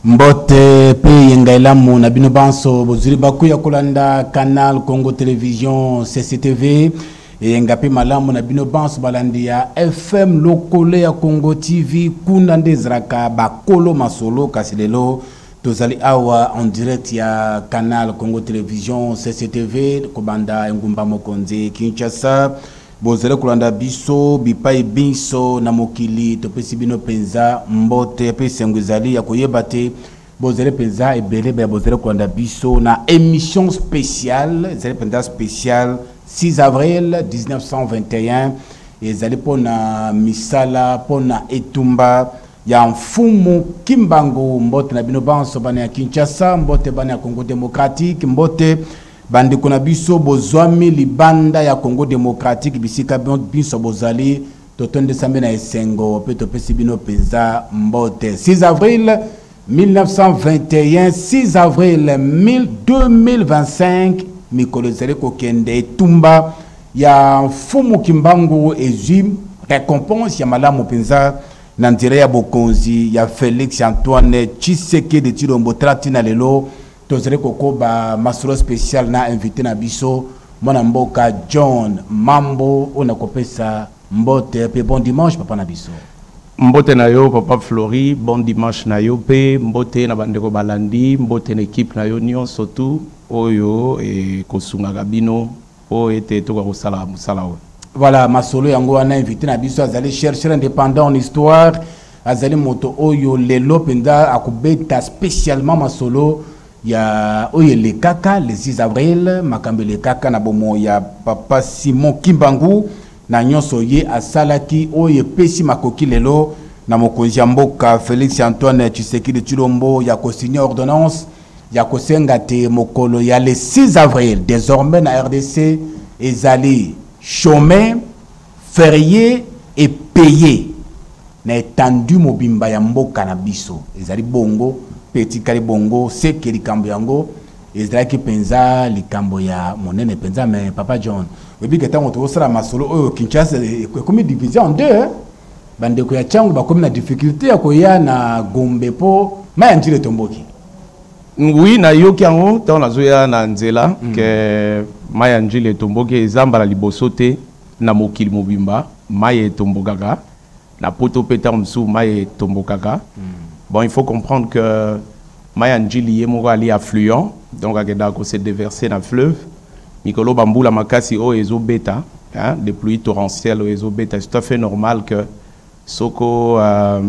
Mbote pe yenga elamu na bino banso bozuli baku ya kolanda Canal Congo Television CCTV eyenga pe malamu na bino banso balandi ya FM lokole ya Congo TV kuna nde ezalaka bakolo masolo kasi lelo tozali awa en direct ya Canal Congo Television CCTV kobanda engumba mokonzi Kinshasa Bozali kolanda biso bipai binso na mokili, topesi bino mpenza mbote mpe esengo ezali ya koyeba te bozali mpenza ebele baya bozali kolanda biso na émission spéciale ezali mpenza spéciale 6 avril 1921 ezali mpo na misala mpo na etumba ya mfumu kimbangu mbote na bino banso bana ya kinshasa mbote bana ya congo démocratique mbote Bandeko na biso bozwami libanda ya Congo demokratiki bisika binso bozali totondisami na esengo mpe topesi bino mpenza mbote 6 avril 1921 6 avril 2025 mikolo ezali kokende etumba ya mfumu kimbangu ezwi recompense ya malamu mpenza na nzela ya bokonzi ya felix antoine tshisekedi tshilombo tala ntina lelo tozali kokoba masolo special na invité na biso mwana mboka john mambo oyo nakopesa mbote mpe bon dimanche papa na biso mbote na yo papa flori bon dimanche na yo mpe mbote na bandeko balandi mbote na ekipe na yo nyonso tu oyo ekosungaka bino mpo ete tokoka kosala mosala oyo voilà masolo yango wana invité na biso azali chercheur indépendant en histoire azali moto oyo lelo mpenza akobeta spécialement masolo ya oyo elekaka le 6 avril makambo elekaka na bomoi ya papa simon kimbangu na nyonso ye asalaki oyo epesi makoki lelo na mokonzi ya mboka félix antoine tshisekedi tshilombo ya kosigne ordonnance ya kosenga te mokolo ya le 6 avril désormais na rdc ezali chôme ferie epaye na etendu mobimba ya mboka na biso ezali bongo mpe etikali bongo seke likambo yango ezalaki mpenza likambo ya monene mpenza me papa john oyebi ke ntango tokosala masolo oyo kinshasa ekomi division en deux Bandeko ya Tshangu bakomi na difficulté ya koya na Gombe mpo mai ya Njili etomboki. Oui, nayoki yango ntango nazoya na nzela mm. ke mai ya Njili etomboki eza mbala liboso te na mokili mobimba mai etombokaka na poto mpe ntango mosusu mai etombokaka mm. bon il faut comprendre que Mai ya Ndjili ye moko ali affluent, donc akendaka ko se deverser na fleuve. Mikolo oyo ba mbula makasi oyo ezo beta, hein, des pluies torrentielles oyo ezo beta, c'est tout à fait normal que soko euh,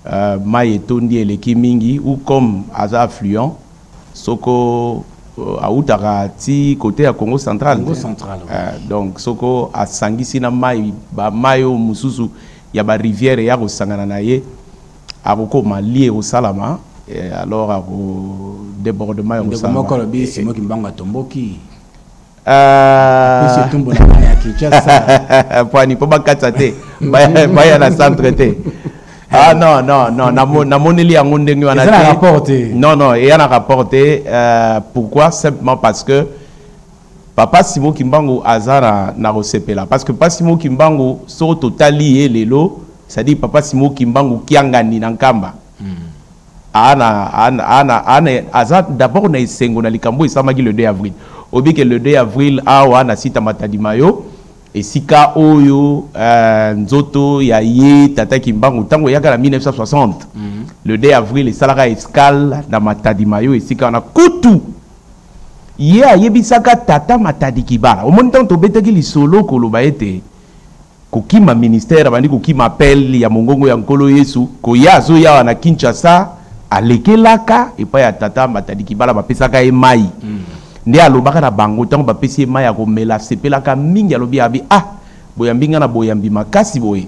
euh, mai etondi eleki mingi ou comme aza affluent, soko euh, awutaka ti kote ya Congo central, Congo te? central, oui. Euh, donc soko asangisi na mai ba mai oyo mosusu ya ba rivière eya kosangana na ye Akokoma lie ekosalama et alors ako debordement ekosalama. Ndeko moko alobi Simon Kimbangu atomboki. Euh, apesi etumbu na bana ya kinshasa pwani mpo bakatisa te baya na centre te ah non non non namoneli yango ndenge wana te non non eya na rapport te euh, pourquoi simplement parce que Papa Simon Kimbangu aza na nakosepela parce que Papa Simon Kimbangu soko totali ye lelo c'est-à-dire Papa Simon Kimbangu Kiangani na Nkamba hmm. ana, ana, ana, ana, aza d'abord na esengo na likambo esamaki le 2 avril oyebi ke le 2 avril awa na sita matadima yo esika oyo uh, nzoto ya ye tata kimbangu ntango eyaka na 1960 mm -hmm. le 2 avril esalaka escale na matadima yo esika wana kutu Ye ayebisaka tata Matadi Kibala. Omoni ntango tobetaki lisolo koloba ete kokima ministère, abandi kokima appel ya mongongo ya Nkolo Yesu, koya azoya awa na Kinshasa, alekelaka epai ya tata Matadi Kibala, bapesaka ye mai. Mm. Nde alobaka na bango ntango bapesi ye mai akomela, asepelaka mingi, alobi abi ah boyambi ngai na boyambi makasi boye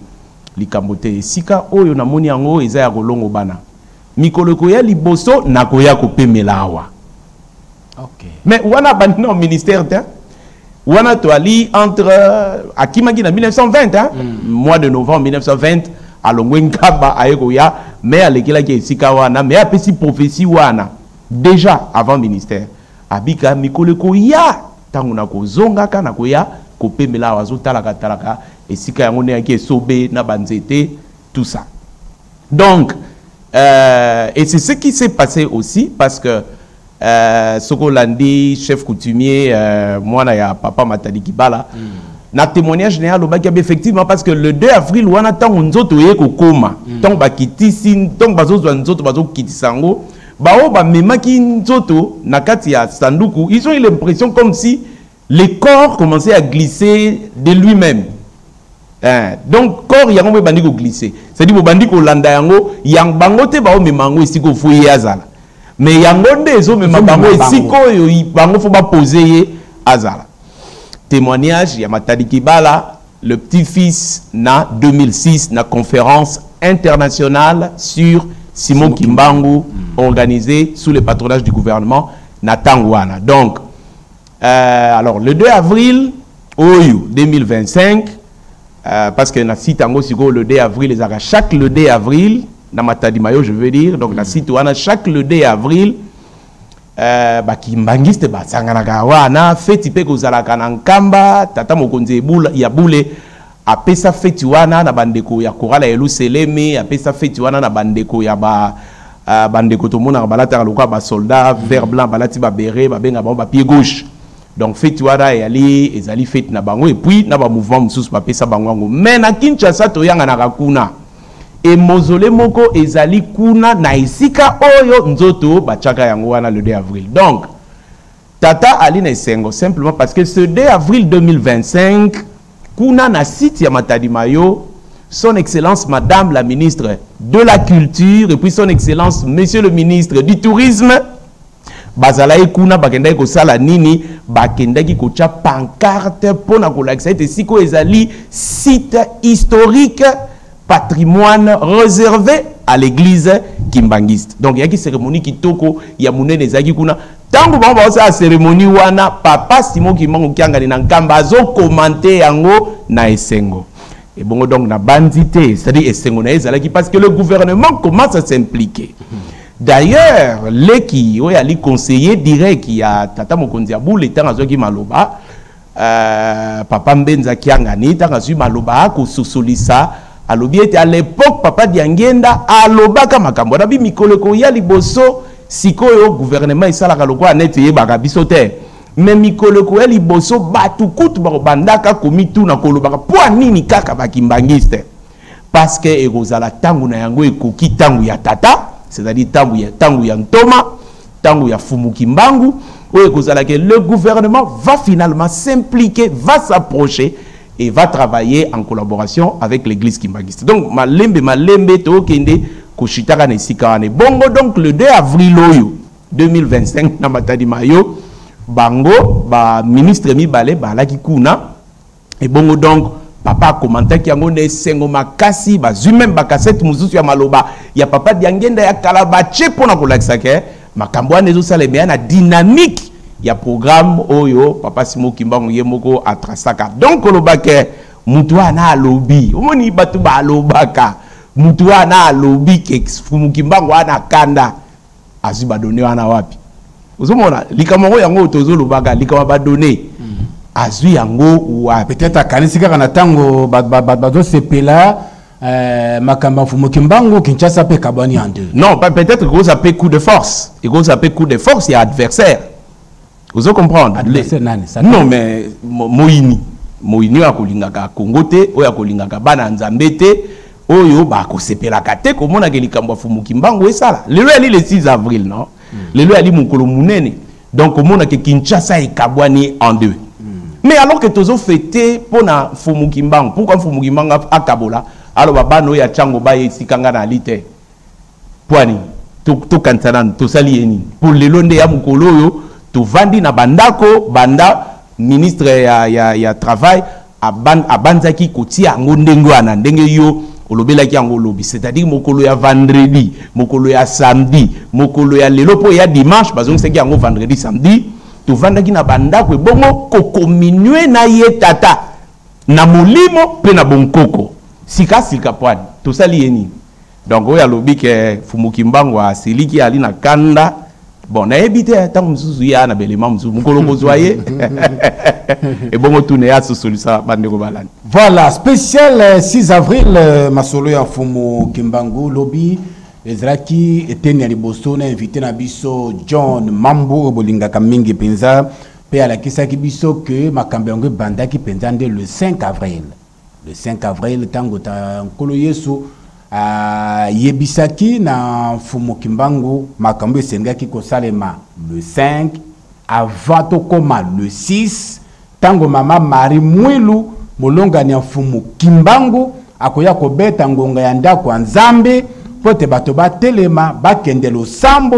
likambo te esika oyo namoni yango eza ya kolongobana Mikolo ekoya liboso nakoya kopemela awa. Okay. Mais wana bandi na ministère te. Wana toali entre akimaki na 1920 hein? Mm. Mois de novembre 1920 alongwe nkaba aye koya mais alekelaki esika wana mais apesi prophétie wana déjà avant ministère abika mikolo ekoya ntango nakozongaka nakoya kopemela awa azotalaka talaka esika yango nde yaki esobe na banzete tout ça Donc, euh, et c'est ce qui s'est passé aussi parce que euh, Soko Landi, chef coutumier, euh, moi, ya papa Matadi Kibala, mm. na témoignage na ye alobaki yabe effectivement parce que le 2 avril wana ntango nzoto eye kokoma mm. ntango bakitisi ntango bazozwa nzoto bazokitisa yango baoyo bamemaki nzoto na kati ya sanduku ils ont eu l'impression comme si Le corps commençait à glisser de lui-même. Eh, donc corps yango mpe ebandi koglise cetadi bobandi kolanda yango yang, bango te baomema yango esika ofo ye azala me yango nde ezomema bango esika oyo bango fo bapose ye azala témoignage ya matadi kibala le petit fils na 2006 na conférence internationale sur simon kimbangu mm. organisée sous le patronage du gouvernement na ntango wana donc Euh, alors, le 2 avril, oyo 2025, euh, parce que na site en gros, le 2 avril, les arrêts, chaque le 2 avril, na matadi mayo, je veux dire, donc mm. na site wana, chaque le 2 avril, euh, bakimbangiste basanganaka wana feti mpe kozalaka na nkamba tata mokonzi ya bule Apesa feti wana na bandeko ya korale ya Yeluselemi, apesa feti wana na bandeko ya ba uh, bandeko tomonaka balataka lokola basolda mm. vert blanc balati babere babenga bango bapied gauche donc feti wana eyali ezali feti na bango epuis na bamouvement mosusu bapesa bango yango mai na kinshasa toyanganaka kuna emozole moko ezali kuna na esika oyo nzoto batyaka yango wana le 2 avril donc Tata ali na esengo simplement parce que ce 2 avril 2025 kuna na site ya Matadi Mayo son excellence madame la ministre de la culture et puis son excellence monsieur le ministre du tourisme bazalaki kuna bakendaki kosala nini bakendaki kotya pancarte mpo na kolakisa ete sikoyo ezali site historique patrimoine réservé à l'église kimbangiste donc eyaki cérémonie kitoko ya monene ezalaki kuna ntango bango baosala seremoni wana papa simo kimbangu kiangani na nkamba azokomante yango na esengo ebongo donc nabanzi te c'est-à-dire esengo na ye ezalaki parce que le gouvernement commence à s'impliquer d'ailleurs leki oyo ali conseiller direct ya tata mokonzi ya bule ntango azwaki maloba Euh, papa Mbenza Kiangani ntango azwi maloba akososolisa alobi ete à l'époque papa Diangienda alobaka makambo wana bi mikolo ekoya liboso sikoyo gouvernement esalaka lokola neti eyebaka biso te me mikolo ekoya liboso bato kutu bakobandaka komituna kolobaka mpo nini kaka bakimbangiste parce que ekozala ntango na yango ekoki ntango ya tata c'est-à-dire ntango ya, ntango ya ntoma ntango ya fumu kimbangu oyo ekozala ke le gouvernement va finalement s'impliquer va s'approcher et va travailler en collaboration avec l'église kimbanguiste donc malembe malembe tokende koshitaka na esika wana ebongo donc le 2 avril oyo 2025 na matadi mayo bango baministre mibale baalaki kuna ebongo donc papa akomantaki yango na esengo makasi bazwi meme bakasete mosusu ya maloba ya papa diangenda ya kala batie mpo na kolakisa ke makambo wana ezosala emeya na dynamique ya programme oyo papa simo kimbangu ye moko atrasaka donc koloba ke motu wana alobi omoni bato balobaka motu wana alobi ke fumu kimbangu wana kanda azwi badone wana wapi ozomona likambo yango yango oyo tozolobaka likambo ya badone hmm. azwi yango wapi peut-être akanisi kaka na ntango bazosepela euh, makambo ya mfumu kimbangu kinshasa mpe ekabwani en deux non peut-être ekoza mpe coup de force ekoza mpe coup de force ya adversaire ozo comprendre adversaire nani non mais moyini moyini oyo akolingaka congo te oyo akolingaka bana ya nzambe te oyo bakosepelaka te komonaka likambo ya fumu kimbangu esala lelo yali le 6 avril non mm. lelo yali mokolo monene donc omonaka kinshasa ekabwani en deux mm. mais alors que tozo fete mpo na fumu kimbangu pourkui fumu kimbangu akabola aloba bana oyo ya ntango baye esika ngai nali te mpo nini tokanisa nanu tosali ye nini mpo lelo nde ya mokolo oyo tovandi na bandako banda ministre ya, ya, ya travail abanzaki kotia yango ndenge wana ndenge yo olobelaki yango lobi c'est-à-dire mokolo ya vendredi mokolo ya samedi mokolo ya lelo mpo ya dimanche bazongisaki yango vendredi samedi tovandaki na bandako ebongo kokominue na ye tata na molimo mpe na bonkoko sikasika pwani tosali ye nini donc oyo alobi ke fumu kimbangu asiliki ali na kanda bon nayebi te ntango mosusu ye aa na belema mosusu mokolo kozwa ye ebongo tuna ye asosolisa bandeko balani voilà spécial 6 euh, avril euh, masolo ya fumu kimbangu lobi ezalaki eteni ya liboso na invité na biso john mambu oyo bolingaka mingi mpenza mpe alakisaki biso ke makambo yango ebandaki mpenza nde le 5 avril Le 5 avril, tango ta nkolo Yesu ayebisaki na mfumu Kimbangu makambo esengaki kosalema le 5 avant tokoma le 6 tango mama Marie Mwilu molongani ya mfumu Kimbangu akoya kobeta ngonga ya ndako ya Nzambe mpo ete bato batelema bakende losambo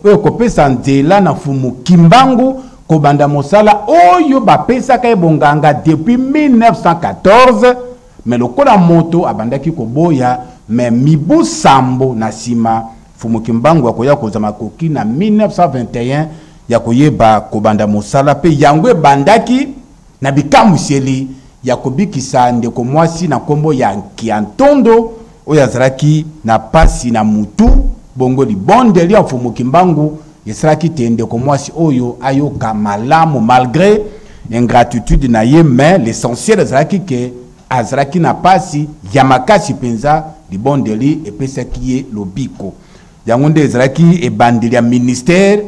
oyo ekopesa nzela na mfumu Kimbangu kobanda mosala oyo bapesaka ye bonganga depuis 1914 me lokola moto abandaki koboya me mibu sambo na nsima mfumu kimbangu akoya kozwa makoki na 1921 ya koyeba kobanda mosala mpe yango ebandaki Na bikamwiseli ya kobikisa ndeko mwasi na nkombo ya Nkiantondo oyo azalaki na mpasi na motu, bongo libondeli ya Mfumu Kimbangu esalaki te ndeko mwasi oyo ayoka malamu malgre ingratitude na ye, mais l'essentiel ezalaki ke azalaki na mpasi ya makasi mpenza, libondeli epesaki ye lobiko. yango nde ezalaki ebandeli ya ministère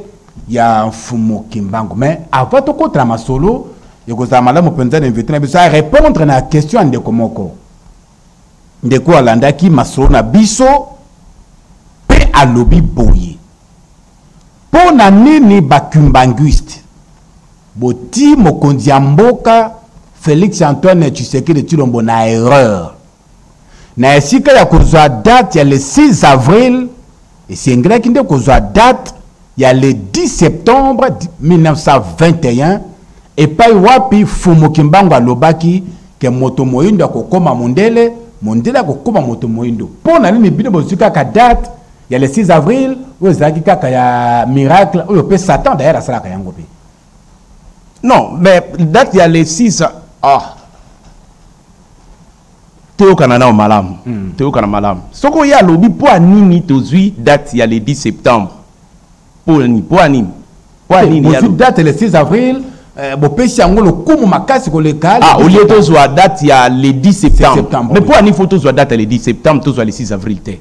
ya mfumu kimbangu mais avant tokota na masolo ekozala malamu mpenza na invité na biso arépondre na question ya ndeko moko ndeko alandaki masolo na biso mpe alobi boye mpo na nini bakimbanguiste boti mokonzi ya mboka félix antoine tshisekedi tshilombo na erreur na esika ya kozwa date ya le 6 avril esengelaki nde kozwa date ya le 10 septembre 1921 epai wapi fumu kimbangu alobaki ke moto moindo akokoma mondele mondele akokoma moto moindo mpo na nini bino bozwi kaka date ya le 6 avril oyo ezalaki kaka ya miracle oyo mpe satan dayere asalaka yango mpe non mais date ya le 6 ah toyokana nao malamu mm. toyokana malamu soki oye alobi mpo ya nini tozwi date ya le 10 septembre mpo ya nini mpo ya nini mpo ya nini bozwi date le 6 avril eh, bopesi yango lokumu makasi koleka ah, olie tozwa date ya le 10 septembre mais mpo ya nini fo tozwa date ya le 10 septembre tozwa le 6 avril te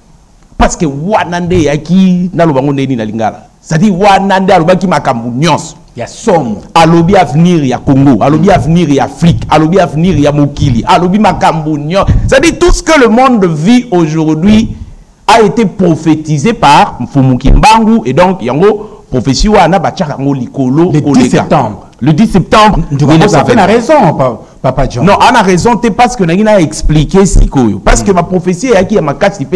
parce que wana nde eyaki naloba yango ndeni na lingala c'est-à-dire wana nde alobaki makambo nyonso ya somo alobi avenir ya congo alobi mm. avenir ya afrique alobi avenir ya mokili alobi makambo nyonso c'est-à-dire tout ce que le monde vit aujourd'hui a été prophétisé par mfumu kimbangu et donc yango prophétie wana batiaka yango likolo koleka Le 10 septembre, tu as fait la raison, Papa John. Non, on a raison, es parce que Nagina a expliqué Sikoyo. Parce que ma prophétie est qui a ma casse, il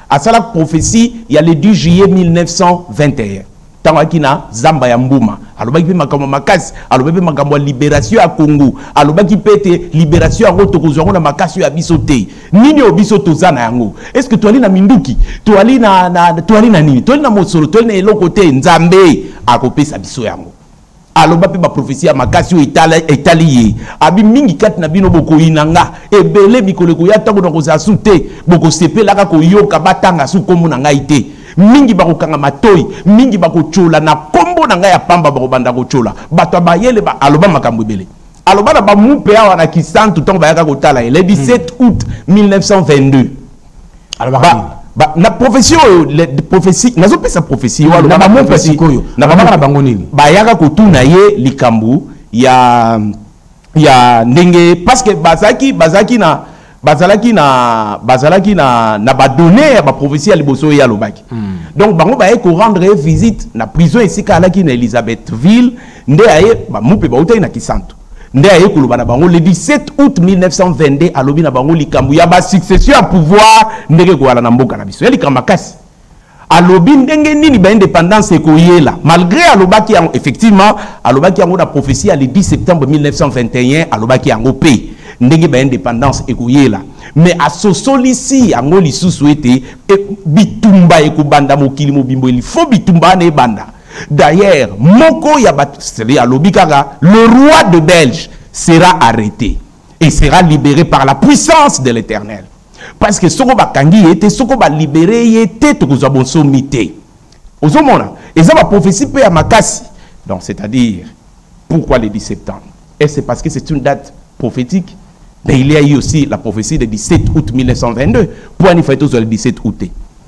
À ça, la prophétie, il y a le 10 juillet 1921. ntango ayaki na zamba ya mbuma alobaki mpe makambo ya makasi alobaki mpe makambo ya liberatio ya kongo alobaki mpe ete liberatio yango tokozwa yango na makasi oyo ya biso te nini oyo biso toza na yango estce que toali na minduki toali na, na, toali na nini toali na mosolo toali na eloko te nzambe akopesa biso yango aloba mpe baprofesi ya makasi oyo etali, etali ye abi mingi kati na bino bokoyina nga ebele mikolo ekoya ntango nakozala su te bokosepelaka koyoka batanga su nkombo na ngai te mingi bakokanga matoi mingi bakotyola na nkombo na ngai ya pamba bakobanda kotyola bato ya bayele ba, aloba makambo ebele aloba na bamupe awa na kisantu ntango bayaka kotala ye le 17 août 1922 alobaka nini ba, na prophetie oyo prophetie nazopesa prophetie oyo hmm, na bamoko sikoyo na babaka na bango nini bayaka kotuna ye likambo ya ya ndenge parce que bazalaki bazalaki na bazalaki na bazalaki na na badonne ya baprophetie ya liboso ye alobaki hmm. donc bango baye korendre ye visite na prison esika alaki na elisabethville nde aye bamupe bautaki na kisantu nde aye koloba na bango le 17 août 1922 alobi na bango likambo ya basuccession ya pouvoir ndenge ekowala na mboka na biso ya likambo makasi alobi ndenge nini baindependance ekoyela malgré alobaki yango effectivement alobaki yango na prophetie ya le 10 septembre 1921 alobaki yango mpe ndenge baindependance ekoyela me asosolisi yango lisusu ete e, bitumba ekobanda mokili mobimbo elifo bitumba wana ebanda D'ailleurs, moko ya bat alobi kaka le roi de Belge sera arrêté et sera libéré par la puissance de l'Éternel. Parce que soko bakangi ye te, soko ba libérer ye te, tokozwa bonsomi te. Ozomona, eza ba prophétie pe ya makasi. Donc c'est-à-dire pourquoi le 10 septembre Et c'est parce que c'est une date prophétique. Mais il y a eu aussi la prophétie de 17 août 1922. Pourquoi il fallait le 17 août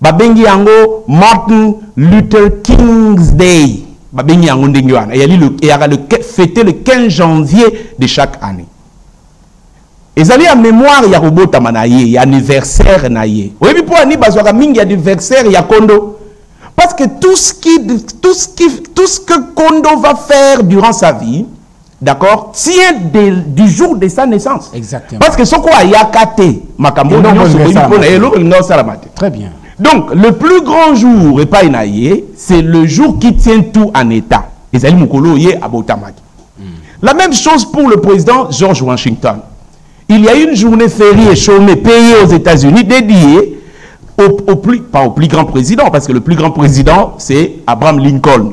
babengi yango martin luther king's day babengi yango ndenge wana eyali eyaka le fete le 15 janvier de chaque année ezali ya mémoire ya kobotama na ye ya anniversaire na ye oyebi mpo ani bazwaka mingi anniversaire ya kondo Parce que tout ce, qui, tout, ce qui, tout ce que Kondo va faire durant sa vie, d'accord tient de, du jour de sa naissance exactement parce que soko ayaka te makambo nyonso boyi mpo na ye eloko elinga osalama te très bien donc le plus grand jour epai na ye c'est le jour qui tient tout en état ezali mokolo ye abotamaki hmm. la même chose pour le président george washington il y a une journée fériée chômée payée aux états unis dédiée au, au plus, pas au plus grand président parce que le plus grand président c'est abraham lincoln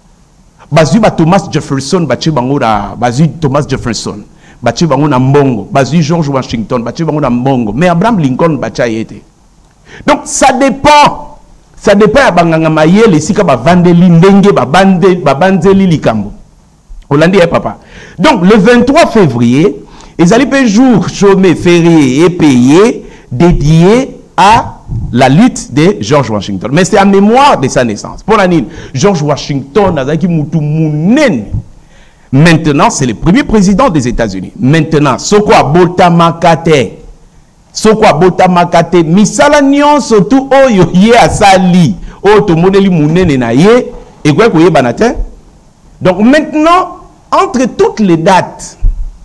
bazwi ba Thomas Jefferson batye bango na bazwi Thomas Jefferson batye bango na mbongo bazwi George Washington batye bango na mbongo mais Abraham Lincoln batya ye te donc ça dépend ça dépend ya banganga mayele esika bavandeli ndenge babanzeli likambo olandi ye papa donc le 23 février ezali mpe jour chôme férié epeye dedier à la lutte de George Washington. Mais c'est en mémoire de sa naissance. Pour la nini, George Washington azalaki mutu munene. Maintenant, c'est le premier président des États-Unis. Maintenant, soko abota makate. Soko abota makate, misala nyonso tout oyo ye asali, oyo tomoneli munene na ye, ekoki koyebana te. Donc maintenant, entre toutes les dates,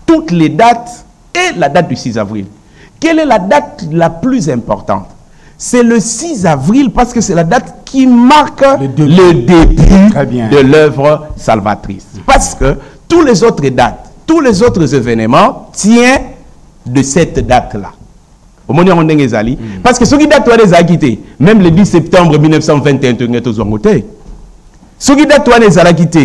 toutes les dates Et la date du 6 avril Quelle est la date la plus importante C'est le 6 avril parce que c'est la date qui marque le début, le début de l'œuvre salvatrice. Parce que tous les autres dates, tous les autres événements tiennent de cette date-là. omoni yango ndenge ezali mm. parce que soki date wana ezalaki te même le 10 septembre 1921 tolingi tozwango te soki date wana ezalaki te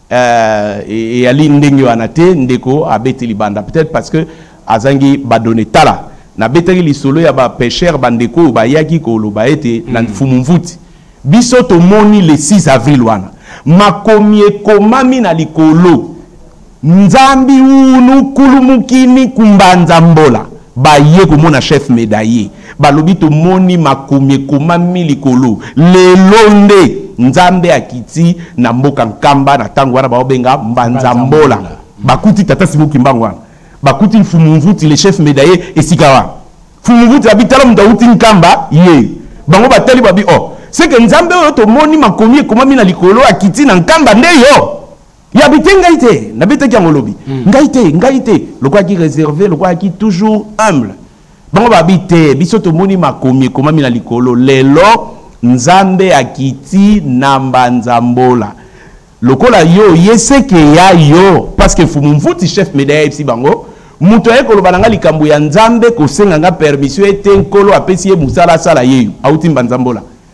Euh, eyali ndenge wana te ndeko abeti libanda peut-être parce que azangi badone tala nabetaki lisolo ya bapeshere bandeko oyo bayaki koloba ete na mm. mfumu mvuti biso tomoni le 6 avril wana makomi ekomami na likolo nzambi unu kulumukini kumbanza mbola Baye komona chef medaille balobi tomoni makomi ekomami likolo lelo nde nzambe akiti na mboka nkamba na tango wana baobenga mbanza mbola bakuti tata simo kimbangu wana bakuti mfumu mvuti le chef medaille esika wana mfumu mvuti abi tala moto awuti nkamba ye bango batali babi o oh, seke nzambe oyo tomoni makomi ekomami na likolo akiti na nkamba nde yo ya bite ngai te nabetaki yango lobi hmm. ngai te ngai te lokola ki réservé lokola ki toujours humble bango babi te biso tomoni makomi ekomami na likolo lelo nzambe akiti na mbanzambola lokola yo ye seke ya yo parceke fumu mvuti chef media ayebisi bango moto aye koloba na ngai likambo ya nzambe kosenga ngai permission ete nkolo apesi ye mosala asala yeyo auti mbanzambola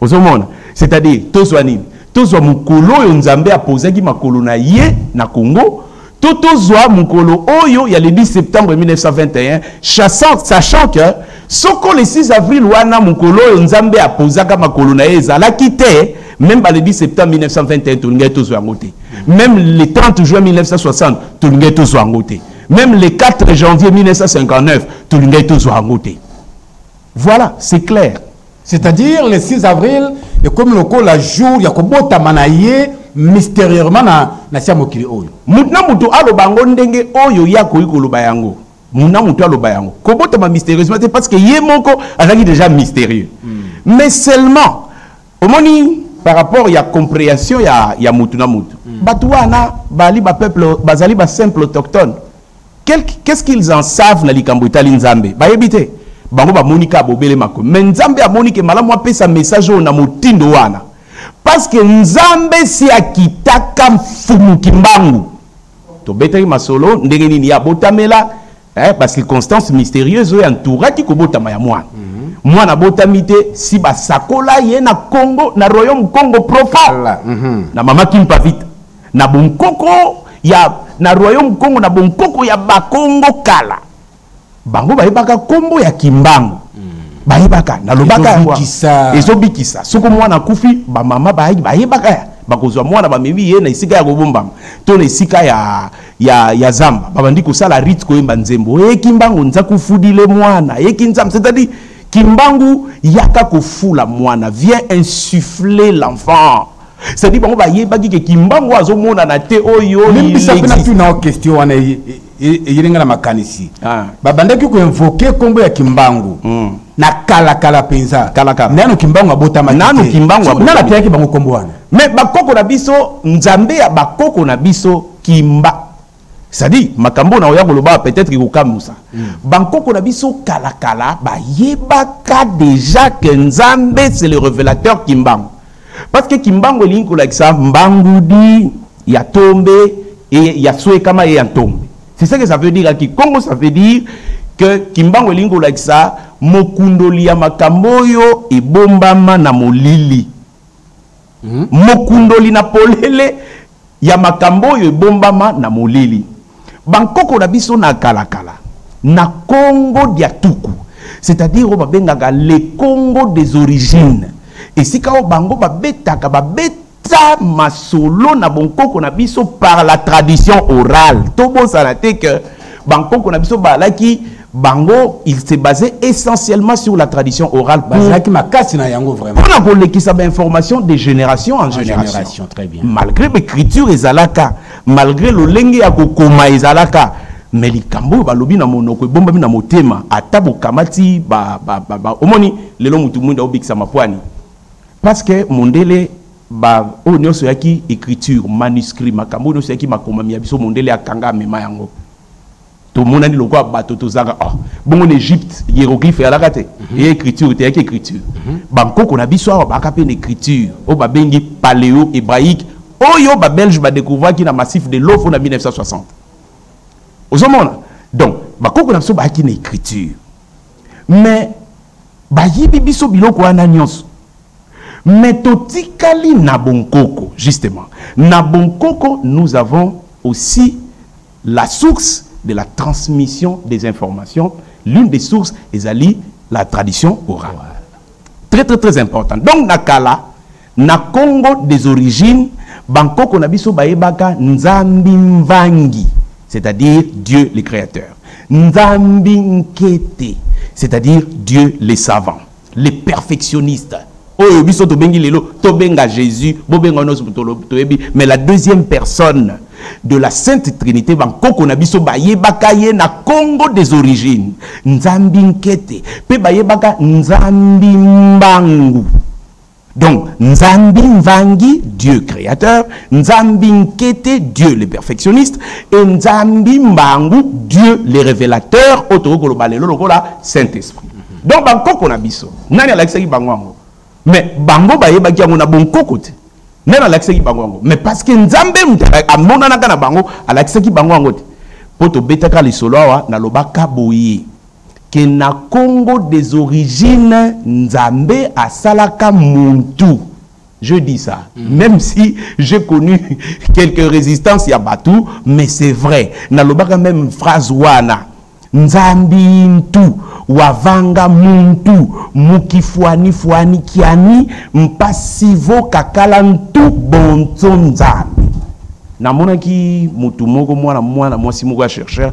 ozomona c'est à dire tozwa nini tozwa mokolo oyo nzambe apozaki makolo na ye na congo to tozwa mokolo oyo ya le 10 septembre 1921 chassant sachant que soko le 6 avril wana mokolo oyo nzambe apozaka makolo na ye ezalaki te même ba le 10 septembre 1921 tolingaki tozwa yango te même le 30 juin 1960 tolingaki tozwa yango te même le 4 janvier 1959 tolingaki tozwa yango te voilà c'est clair c'est-à-dire le 6 avril ekomi lokola jour ya kobotama na ye mystérieusement na, na sia mokili oyo moto na moto aloba yango ndenge oyo ye akoki koloba yango moto na moto aloba yango kobotama mystérieusement te parce que ye moko azalaki déjà mystérieux mm. mais seulement omoni par rapport ya compréhension ya, ya moto na moto mm. bato wana bali bapeuple bazali basimple autochtone Qu'est-ce qu'ils en savent na likambo etali Nzambe? Bayebi te. Bango bamoni kaka bobele makomi. Mais Nzambe amoni ke malamu apesa message oyo na motindo wana. Parce que Nzambe si akitaka mfumu kimbangu. Tobetaki masolo ndenge nini ya botamela eh, ba circonstances mystérieuses oyo entouraki kobotama ya mwana. Mm -hmm. mwana abotami te si basakola ye na congo na royaume congo profond mm -hmm. na mama kimpa vita Na bonkoko ya na royaume Kongo na bonkoko ya Bakongo kala bango bayebaka kombo ya Kimbangu bayebaka nalobaka ezobikisa soko mwana akufi bamama bayebaka ya bakozwa mwana bamemi ye na esika ya kobombama to na esika ya, ya, ya zamba babandi kosala rite koyemba nzembo eye kimbangu nza kufudile mwana eki nzambe c'est-à-dire kimbangu yaka kofula mwana vient insuffler l'enfant cest bango bayebaki ke kimbangu azomonana te oyo limbisa mpe natuna o question wana e, e, e, eyeli ngai na makanisi ah. babandaki koinvoke nkombo ya kimbangu hmm. na kalakala mpenza nano kimbangu abotama nano kimbangu nano ateyaki bango nkombo wana me bakoko na biso nzambe ya bakoko na biso kimba cestadire makambo oyo nakoya koloba peut-être ekokamwisa mm. bankoko na biso kalakala bayebaka déjà ke nzambe c'est le révélateur kimbangu parce que kimbangu elingi kolakisa mbangudi ya tombe e ya swekama ye ya ntombe c'est ça que ça veut dire aki congo ça veut dire que kimbangu elingi kolakisa mokundoli ya makambo oyo ebombama na molili Hmm? Mokundoli na polele ya makambo oyo ebombama na molili. Bankoko na biso na kalakala na Congo dia tuku c'est-à-dire oyo babengaka le Congo des origines esika oyo bango babetaka babeta masolo na bonkoko na biso par la tradition orale tobosana te que bankoko na biso balaki bango il se basait essentiellement sur la tradition orale bazalaki makasi na yango vraiment mpona kolekisa bainformation de génération en, en génération. génération très bien malgré baécriture ezalaka malgré lolenge ya kokoma ezalaka me likambo oyo balobi na monoko ebombami na motema ata bokamati ba, ba, ba, ba, omoni lelo motu mwinda obikisa mapwani parce que mondele ba oyo nyonso eyaki écriture manuscrit makambo oyo nyonso eyaki makomami ya biso mondele akanga amema yango tomonani lokola bato tozanga oh. bongo na egypte hieroglyphe eyalaka te mm -hmm. écriture te eyaki écriture mm -hmm. bankoko na biso awa baka mpe na écriture oyo babengi paléo hébraïque oyo babelge badécouvraki na massif de lofo na 1960 ozomona donc bakoko na biso bayaki na écriture mais bayibi biso biloko wana nyonso Mais totikali na bonkoko justement. Na bonkoko nous avons aussi la source de la transmission des informations. L'une des sources ezali la tradition orale. Très très très important. Donc na kala na Congo des origines bankoko na biso bayebaka nzambi mvangi c'est-à-dire Dieu le créateur. Nzambi nkete c'est-à-dire Dieu le savant. les perfectionnistes oyo biso tobengi lelo tobenga jésus bobenga nyonso toyebi mais la deuxième personne de la sainte trinité bankoko na biso bayebaka ye na congo des origines nzambi nkete mpe bayebaka nzambi mbangu Donc, Nzambi Nvangi, Dieu créateur, Nzambi Nkete, Dieu le perfectionniste, et Nzambi Mbangu, Dieu le révélateur, Otokolo Balelo Lokola, Saint-Esprit. Donc, Bankoko na biso, nani alakisaki bango yango? Mais bango bayebaki yango na bonkoko te. Nani alakisaki bango yango? Mais parce que Nzambe moto amonanaka na bango, alakisaki bango yango te. Mpo tobetaka lisolo awa nalobaka boye. que na Congo des origines Nzambe asalaka muntu je dis ça mm. même si j'ai connu quelques résistances ya batou mais c'est vrai nalobaka même phrase wana nzambi ntu wavanga muntu mukifuani fuani kiani mpasivo kakala ntu bonzo nzambi namonaki motu moko mwana mwana mwasi moko ya chercheur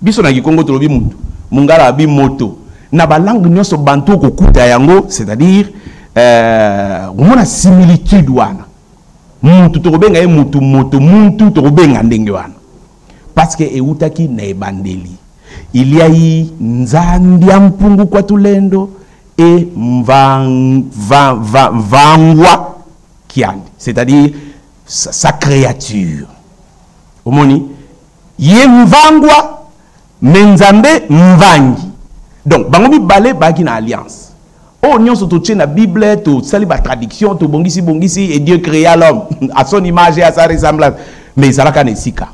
biso na kikongo tolobi mutu mungala abi moto na balangue nyonso bantu okokuta yango c'est-à-dire euh, omona similitude wana mutu tokobenga ye mutu moto muntu tokobenga ndenge wana parce que ewutaki na ebandeli il y a eu nzambia mpungu kwa tulendo et mvang, va, va, vangwa kiandi c'est-à-dire sa, sa créature omoni ye mvangwa me nzambe mvangi donc bango mibale baaki na alliance oyo oh, nyonso totie na bible tosali batradiction tobongisi bongisi et dieu créa l'homme à son image et à sa ressemblance mais ezalaka na esika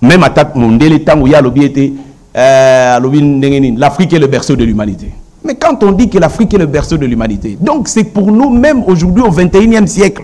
meme ata mondele ntango ye alobi ete euh, alobi ndenge nini l'afrique est le berceau de l'humanité mais quand on dit que l'afrique est le berceau de l'humanité donc c'est pour nous même aujourd'hui au 21e siècle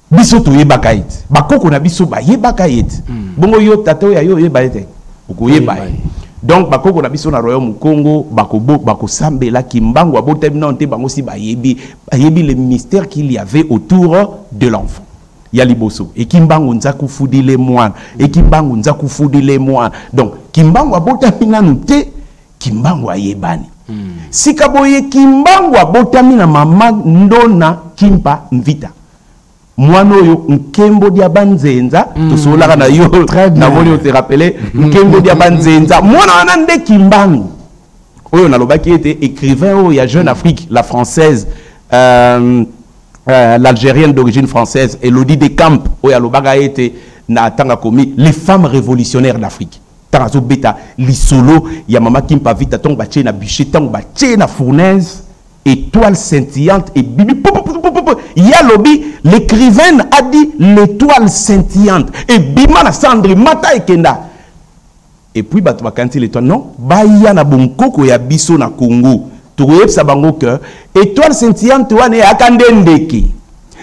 biso toyebaka ye te bakoko na biso bayebaka ye te hmm. bongo yo tata oyo ya yo oyeba ye te okoyeba ye donc bakoko na biso na royaume congo bakosambela kimbangu abotami nano te bango si bayebi bayebi le mystère qu'il y avait autour de l'enfant ya liboso ekimbangu nzakufudile mwana ekimbangu nzakufudile mwana donc kimbangu abotami nano te kimbangu ayebani hmm. sika boye kimbangu abotami na mama ndona kimpa mvita mwana oyo nkembo dia banzenza mm. tosololaka na yo namoni ote rappele hmm. nkembo dia banzenza mwana wana nde kimbangu oyo nalobaki ete écrivain oyo ya jeune afrique la française euh, euh, l'algérienne d'origine française elodie de camp oyo alobaka ete na tanga komi les femmes révolutionnaires d'afrique ntango azobeta lisolo ya mama kimpa vita ntango batye na bûcher ntango batye na fournaise étoile scintillante ebibi ye alobi l'écrivaine a dit l'étoile scintillante ebima na cendre mata ekenda epuis bato bakanisi l'étoile non baya na bonkoko ya biso na congo tokoyebisa bango ke étoile scintillante wana eyaka nde ndeke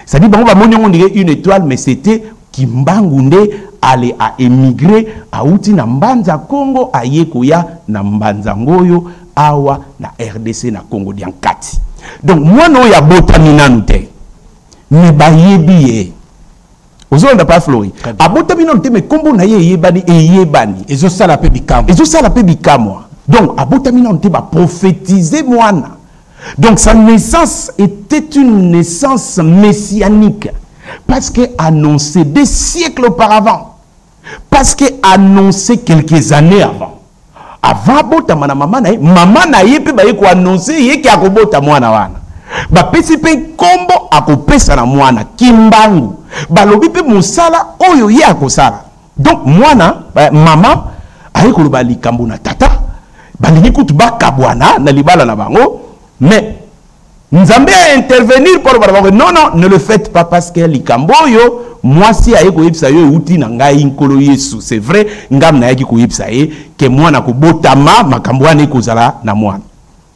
cestadi bango bamoni yango ndenge une étoile mais c'était Kimbangu nde ale a emigrer awuti na Mbanza Kongo aye koya na Mbanza Ngoyo awa na rdc na Kongo dia Nkati. Donc mwana oyo abotami nanu te mais bayebi ye. Ozolanda pa Flori. Abotami nanu te mais kombo na ye eyebani eyebani. Ezosala pe bikamwa. Ezosala pe bikamwa. Donc abotami nanu te ba prophétiser mwana Donc sa naissance était une naissance messianique parce que annoncé des siècles auparavant parce que annoncé quelques années avant avant abotama na mama na ye mama na ye mpe baye koannonse ye ke akobota mwana wana bapesi mpe nkombo akopesa na mwana kimbangu balobi mpe mosala oyo ye akosala donc mwana eh, mama aye koloba likambo na tata balingi kutu bakabwana na libala na bango mais nzambe a intervenir mpo aloba na bango non non ne le faites pas parce que likambo oyo mwasi aye koyebisa yo euti na ngai nkolo yesu c'est vrai ngam nayaki koyebisa ye ke mwana kobotama makambo wana ekozala na mwana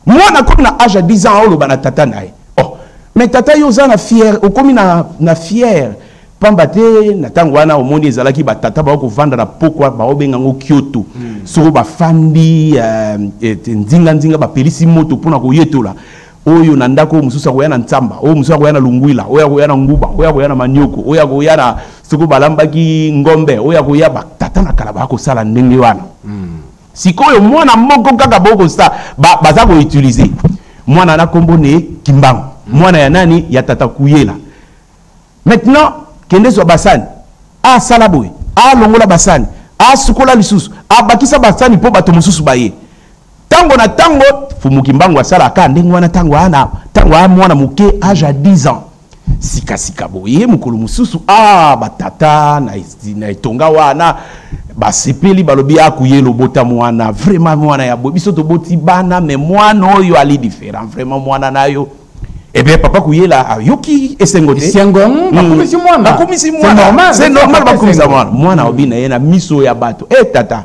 Mwana akomi na age ya 10 ans oloba na tata na ye. Oh, mais tata yo oza na fier, okomi na na fier. Pamba te na tango wana omoni ezalaki ba tata ba ko vanda na pokwa ba obenga ngo Kyoto. Mm. Soko ba fandi euh, et nzinga nzinga ba pelisi moto pona ko yetola. Oyo na ndako mususu akoya na Nsamba, oyo mususu akoya na Lungwila, oyo akoya na Nguba, oyo akoya na Manioko, oyo akoya na soko balambaki ngombe, oyo akoya ba tata na kala ba ko sala ndenge wana. Mm. Sikoyo mwana moko kaka boko sa ba, baza ko utiliser mwana na kombo ne Kimbangu mwana ya nani ya tata kuyela maintenant kende zwa basani asala boye alongola basani asukola lisusu abakisa basani mpo bato mosusu baye ntango na ntango fumuki mbangu asalaka ndenge wana ntango ana ntango a mwana moke age ya 10 ans sika sika boye mokolo mosusu ah batata na, na etonga wana basepeli balobi akuye lobota mwana vraiment mwana ya boye biso toboti bana me mwana oyo ali différent vraiment mwana nayo ebe eh papa kuyela ayoki esengo te esengo hmm. bakomisi mwana bakomisi mwana c'est normal bakomisa mwana mwana obi na ye na miso ya bato e tata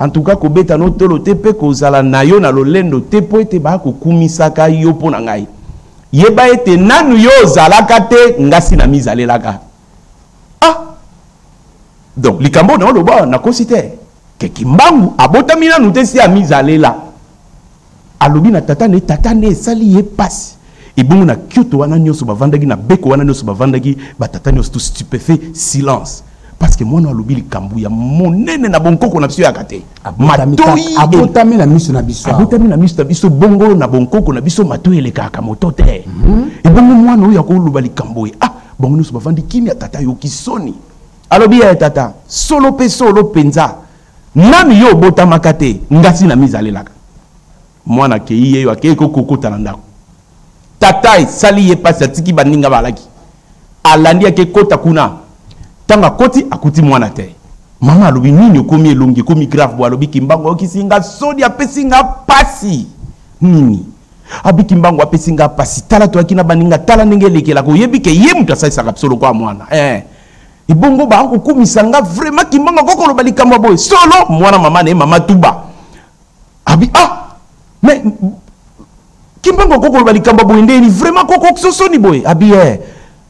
en tout cas kobeta notolo te mpe kozala na yo na lolendo te mpo ete bakokumisaka yo mpo na ngai Yeba ete nanu yo ozalaka te ngasi na mizalelaka. Ah! Donc likambo na oloba na kosi te. Ke kimbangu abotami nanu te si amizalela. Alobi na tata ne tata ne esali ye pasi. ebongo na kyoto wana nyonso bavandaki na beko wana nyonso bavandaki batata nyonso to stupefait silence parce que mwana alobi likambo ya monene na bonkoko na biso yaka te abotami na miso na biso abotami na miso na biso bongo na bonkoko na biso matoi elekaka moto te mhm. ebongo mwana oyo akoloba likambo oyo ah bango nyonso bavandi kimia tata ayoki soni alobi ya tata solo mpe solo mpenza nani yo obotamaka te ngasi na mizalelaka mwana akei ye yo akei kokokota na ndako tata esali ye mpasi atiki baninga balaki alandi ake kota kuna ntango akoti akuti mwana te mama alobi nini okomi elongi ekomi grave bo alobi kimbangu ayokisi nga soni apesi nga mpasi nini abi kimbangu apesi nga mpasi tala toyaki na baninga tala ndenge elekelaka oyebi ke ye moto asalisaka biso lokola mwana eh. ebongo bakokumisa nga vraimen kimbangu akokoloba likambo ya boye solo mwana mama na ye mama tuba abi ah mais kimbangu akoki koloba likambo boye ndeni vraiment kokokisosoni boye abi eh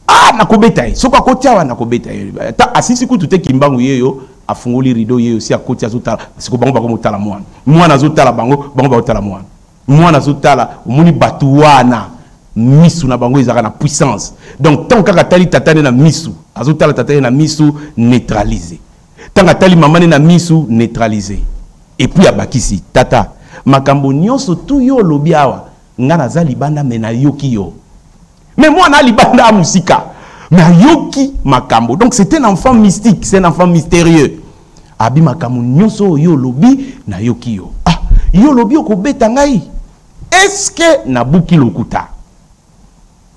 ah nakobeta ye soki akoti awa nakobeta ye ata asisi kutu te kimbangu ye yo afungoli rideau ye osi akoti azotala siko bango bakomotala mwana mwana azotala bango bango bakotala mwana mwana azotala omoni bato wana misu na bango ezalaka na puissance donc ntango kaka atali tata nde na misu azotala tata ye na misu neutralise Tanga tali maman ne na misu neutraliser. Et puis abakisi tata makambo nionso tout yo lobi awa nga naza libanda me na yoki yo. Mais moi na libanda a musika. Mais ayoki makambo. Donc c'est un enfant mystique, c'est un enfant mystérieux. Abi makambo nionso yo lobi na yoki yo. Ah, yo lobi okobeta ngai. Est-ce que na buki lokuta?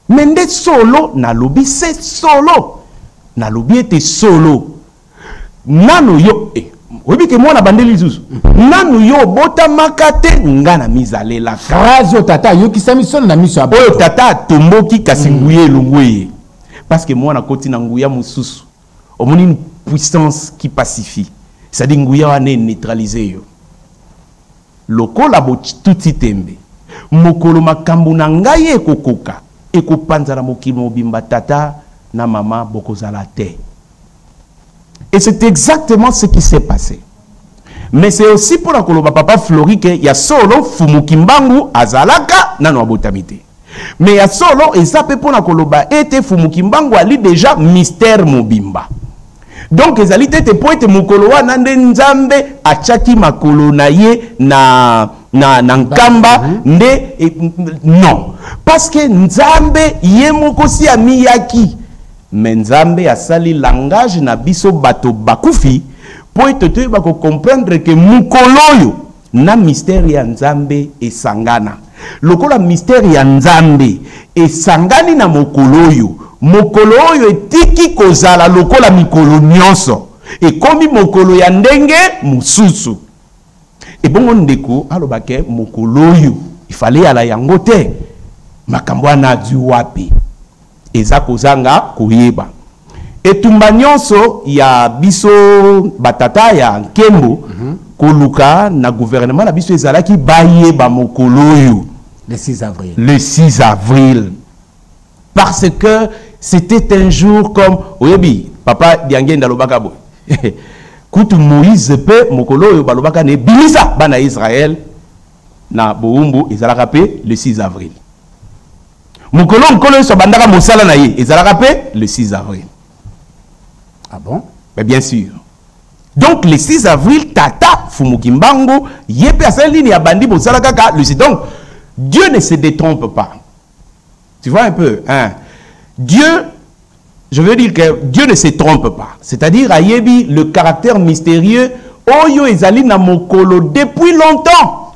mais nde solo nalobi se solo nalobi ete solo nano yo eh, oyebi ke mwana bandeli lisusu nanu yo obotamaka te nga na mizalela phrase oyo tata ayokisami solo na miso ya oyo tata atomboki kasi mm. nguya elongwe ye parceke mwana akoti na nguya mosusu omoni une puissance qui pacifie c'est-à-dire nguya wana eneutralise yo lokola botuti tembe mokolo makambo na ngai ekokoka ekopanzana mokili mobimba tata na mama bokozala te et c'est exactement ce qui s'est passé Mais c'est aussi mpo na koloba papa Flori ke ya solo Fumu Kimbangu azalaka nano abotami te. Mais ya solo eza mpe mpo na koloba ete Fumu Kimbangu ali deja mystère mobimba. Donc ezali te ete mpo ete mokolo wana nde Nzambe atyaki makolo na ye na na, na nkamba mhm. nde e, non parce que Nzambe ye moko si amiyaki Mais Nzambe asali langage na biso bato bakufi po ete toyeba ko comprendre que mokolo oyo na mystère ya Nzambe esangana. Lokola mystère ya Nzambe esangani na mokolo oyo, mokolo oyo etiki kozala lokola mikolo nyonso, ekomi mokolo ya ndenge mosusu. Ebongo ndeko aloba ke mokolo oyo ifale yala yango te, makambo wana azwi wapi? Eza kozanga koyeba. Etumba nionso ya biso ba tata ya nkembo mm -hmm. koluka na gouvernement na biso ezalaki bayeba mokolo oyo le 6 avril. Le 6 avril. Parce que c'était un jour comme oyebi papa Diangenda lobaka boy. Kutu Moïse pe mokolo oyo balobaka ne bimisa bana Israël na boumbu ezalaka pe le 6 avril. mokolo nkolo yesu abandaka mosala na ye ezalaka mpe le 6 avril ah bon mais bien sûr donc le 6 avril tata fumuki mbango ye mpe asali nini abandi mosala kaka le 6 donc dieu ne se détrompe pas tu vois un peu hein? dieu je veux dire que dieu ne se trompe pas c'est-à-dire ayebi le caractère mystérieux oyo ezali na mokolo depuis longtemps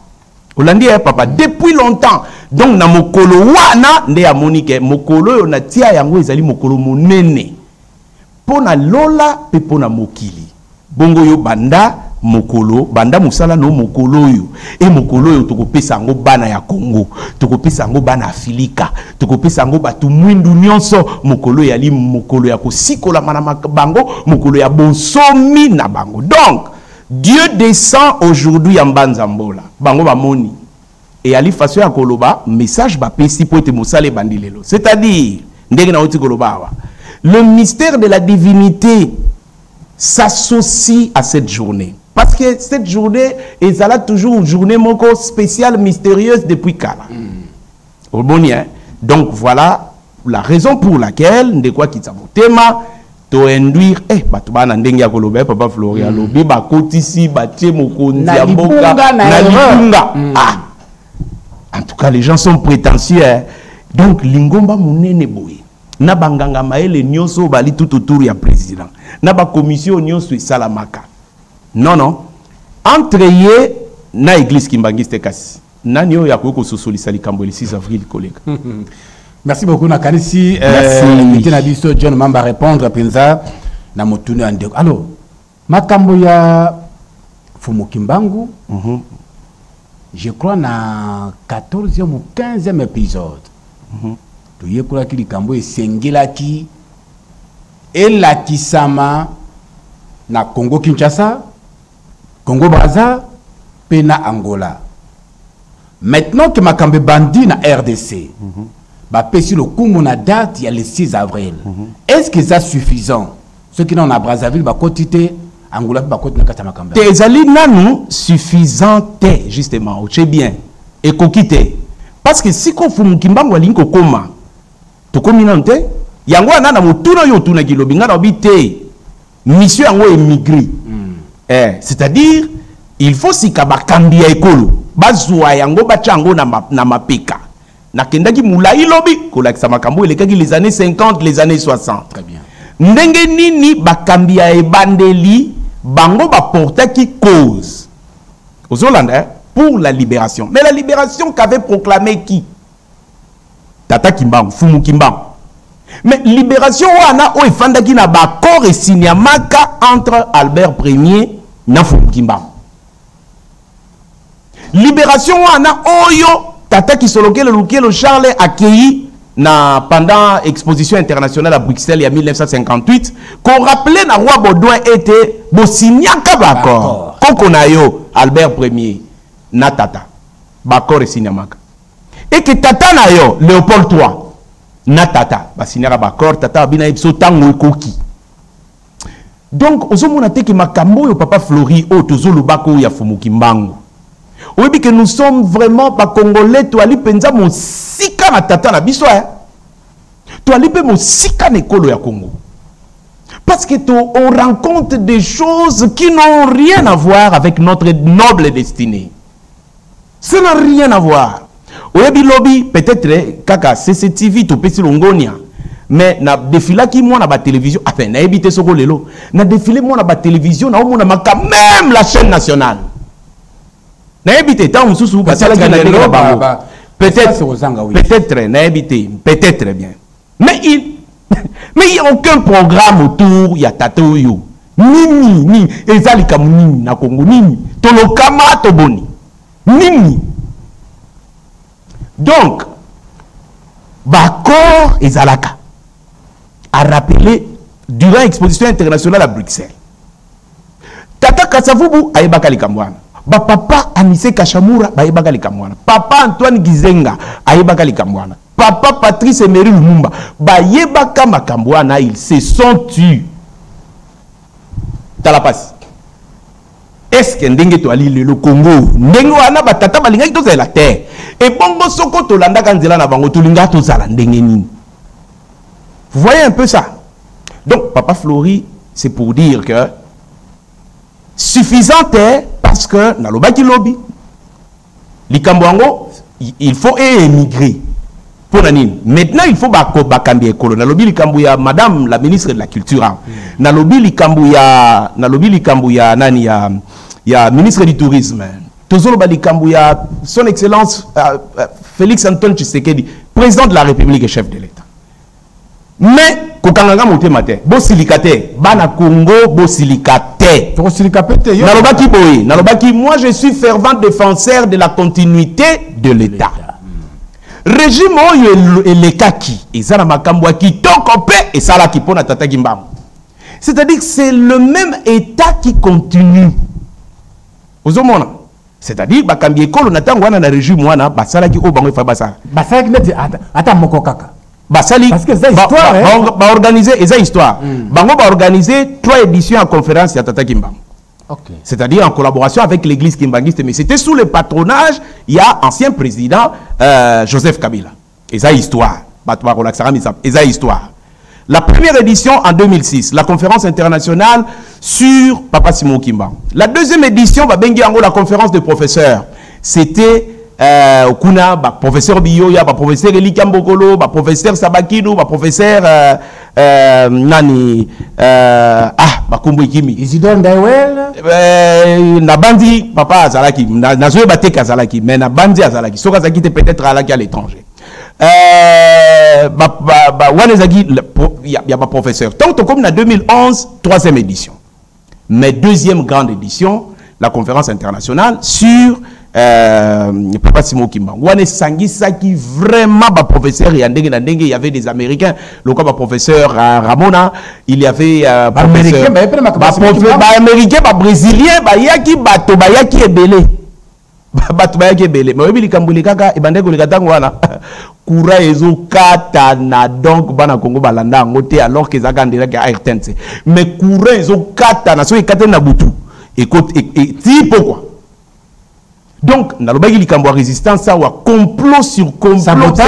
olandi ya papa depuis longtemps donc na mokolo wana nde amoni ke mokolo oyo natia yango ezali mokolo monene mpo na lola mpe mpo na mokili bongo yo banda mokolo banda mosala no mokolo oyo e mokolo oyo tokopesa yango bana ya kongo tokopesa yango bana afilika tokopesa yango bato mwindu nyonso mokolo eyali mokolo ya kosikolama na bango mokolo ya bonsomi na bango donc Dieu descend aujourd'hui ya mbanza mbola bango ba moni eyali façon ya koloba message ba pesi po ete mosala ebandi lelo c'est à dire ndenge na oti koloba awa le mystère de la divinité s'associe à cette journée parce que cette journée ezala toujours journée moko spéciale mystérieuse depuis kala mm. oboni hein donc voilà la raison pour laquelle ndeko akitisa motema to induire eh bato bana ndenge ya koloba eh, papa florian mm. alobi bakotisi batie mokonzi ya mboka na libunga mm. ah en tout cas les gens sont prétentieux hein. donc lingomba monene boye na banganga mayele nyonso oyo bali tout autour ya président na bakomisio nyonso esalamaka non non entre ye na église kimbangiste kasi Nani oyo akoki kososolisa likambo ya le 6 avril koleka? Merci beaucoup nakanisi invité na biso John Mamba répondre mpenza na motuni ya ndeko. Alors makambo ya Fumu Kimbangu mm -hmm. je crois na 14e ou 15e épisode mm -hmm. toyekolaki likambo esengelaki elakisama na Congo Kinshasa Congo Brazza pe na Angola maintenant que makambo ebandi na rdc mm -hmm. bapesi lokumu na date ya le 6 avril mm -hmm. est ce que eza suffisant soki nano na brazzaville bakoti te angola mpe bakoti na kati ya makambo te ezali nanu suffisant te justement otie bien ekoki te parce que sikofu mokimbangu alingi kokoma tokomi nanu te yango wana na motuna oyo otunaki lobi ngai naobi te mission yango émigre mm. eh, c'est-à-dire il faut sika bakambi ya ekolo bazwa yango batya yango na, ma, na mapeka nakendaki molai lobi kolakisa makambo elekaki les années 50 les années 60 Très bien. ndenge nini bakambi ya ebandeli bango baportaki cause ozolanda eh? pour la libération mais la libération qu'avait proclamé qui tata kimbangu fumu kimbangu mais libération wana oyo efandaki na baaccord esiniamaka entre albert premier na fumu kimbangu libération wana oyo tata kisolokele lukelo charles akei na pendant exposition internationale à bruxelles ya 1958 korappele na roi baudouin ete bosiniaka baaccord koko na yo albert premier na tata baaccord esiniamaka et que tata na yo Léopold 3 na tata ba signaka ba accord tata abina yebiso tango ekoki donc ozomona te ke makambo oyo papa flori oyo tozolobaka oyo ya fumuki mbangu oyebi ke nous sommes vraiment bacongolais toali mpenza mosika na tata na biso eh? toali mpe mosika na ekolo ya congo parce que to, on rencontre des choses qui n'ont rien à voir avec notre noble destinée Ça n'a rien à voir. Oyebi lobi peut-être kaka CCTV topesi longonia mais na défilaki mwana ba télévision ah ben nayebi te soko lelo na défilé mwana ba télévision na omona maka même la chaîne nationale nayebi te ntango mosusu basalaki na ndenge na bango peut-être peut-être nayebi te peut-être bien mais il mais il y a aucun programme autour ya tata oyo nini nini eza likambo nini na kongo nini tolokama toboni nini donc baaccord ezalaka arapele durant exposition internationale à bruxelles tata kasavubu ayebaka likambo wana bapapa anise kashamura bayebaka likambo wana papa antoine gizenga ayebaka likambo wana Papa Patrice Emery Lumumba bayebaka makambo wana ils se sont tu tala pasi eske ndenge toali lelo kongo ndenge wana batata balingaki tozala te ebongo soko tolandaka nzela na bango tolingaka tozala ndenge nini voyez un peu ça donc papa flori c'est pour dire que suffisant te parce que nalobaki lobi likambo yango il faut e émigrer mpo na nini maintenant il faut bakambi ya ekolo nalobi likambo ya madame la ministre de la culture awa hmm. nalobi likambo ya nalobi likambo ya nani ya ya ministre du tourisme tozoloba likambo ya son excellence uh, uh, félix antoine tshisekedi président de la république et chef de l'état mais kokanga nga motema te bosilika te bana congo bosilika te tokosilika mpe te nalobaki boye nalobaki moi je suis fervent défenseur de la continuité de l'état régime oyo elekaki eza na makambo ya kitoko mpe esalaki mpo na tata kimbangu c'est-à-dire c'est le même état qui continue ozomona c'est-à-dire bakambi ekolo na ntango wana na regime wana basalaki oyo bango efai basala basalaki neti ata moko kaka basali baorganize ba, ba, ba eza histoire mm. bango baorganize trois éditions ya conférence ya tata kimbangu Okay. C'est-à-dire en collaboration avec l'église kimbanguiste, mais c'était sous le patronage, il y a ancien président euh, Joseph Kabila. Eza histoire. Bato bakolakisaka misa. Eza histoire. La première édition en 2006, la conférence internationale sur Papa Simon Kimba. La deuxième édition, bah, bengi ango la conférence des professeurs. C'était euh, kuna ba professeur Biyoya, ba professeur Elika Mbokolo, ba professeur Sabakino, ba professeur euh, Euh, nani euh, ah bakombo ekimi isidore ndaiwel euh, nabanzi papa azalaki nazoyeba te ke azalaki mais nabanzi azalaki soki azalaki te peut-être alaki à l'étranger euh, ba, ba, ba, wana ezalaki ya baprofesseur ntango tokomi na 2011 troisième édition mais deuxième grande édition la conférence internationale sur euh, papa simo kimbangu wana esangisaki vraiment baprofesseur ya ndenge na ndenge y avait des américains lokola baprofesseur uh, ramona il y avait uh, baaméricain babrésilien bayaki bato bayaki ebele bato bayaki ebele me oyebi likambo elekaka ebandaki koleka ntango wana kura ezokatana donc bana kongo balanda yango te alors ke ezalaka ndelaki ya rtnc me kura ezokatana soki ekatani na butu e, e, ti pokwa donc nalobaki likambo ya résistance awa complot sur complot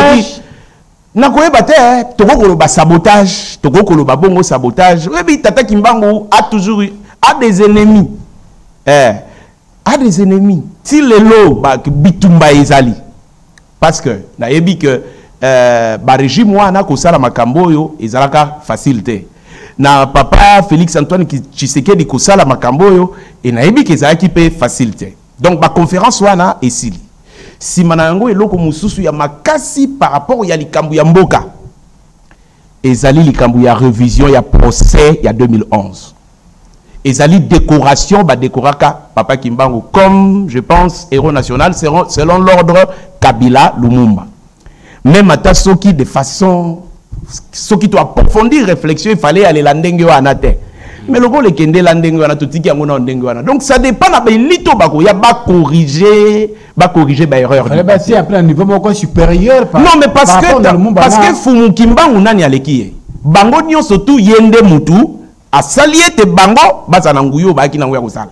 nakoyeba te eh, tokoki koloba sabotage tokoki koloba bongo sabotage oyebi tata kimbangu a toujours a des ennemis eh. a des ennemis ti lelo bitumba ezali parce que nayebi que euh, barégime wana kosala makambo oyo ezalaka facile te na papa félix antoine tshisekedi kosala makambo oyo e nayebi ke ezalaki mpe facile te donc baconférence wana esili nsima na yango eloko mosusu ya makasi par rapport ya likambo ya mboka Ezali likambo ya revision ya procès ya 2011. Ezali decoration ba decoraka papa Kimbangu comme je pense héros national selon l'ordre Kabila Lumumba. Même ata soki de façon soki to approfondir réflexion il fallait aller la ndenge wana te mais lokola ekendela ndenge wana totiki yango na ndenge wana donc ça dépend na baelite oyo bakoya bacorrige ba corriger ba erreur fallait ba tia après niveau moko supérieur par non mais parce que ta, parce que fumu kimbangu nani aleki ye bango nyonso tu ye nde mutu asali ete bango bazala na nguya oyo bayaki nango ya kosala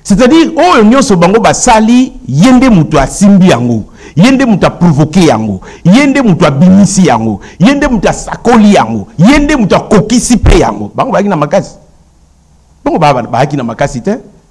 c'est-à-dire oyo nyonso bango basali ye nde mutu asimbi yango ye nde moto aprovoke yango ye nde moto abimisi yango ye nde moto asakoli yango ye nde moto akokisi mpe yango bango bayaki na makasi bango bayaki na makasi te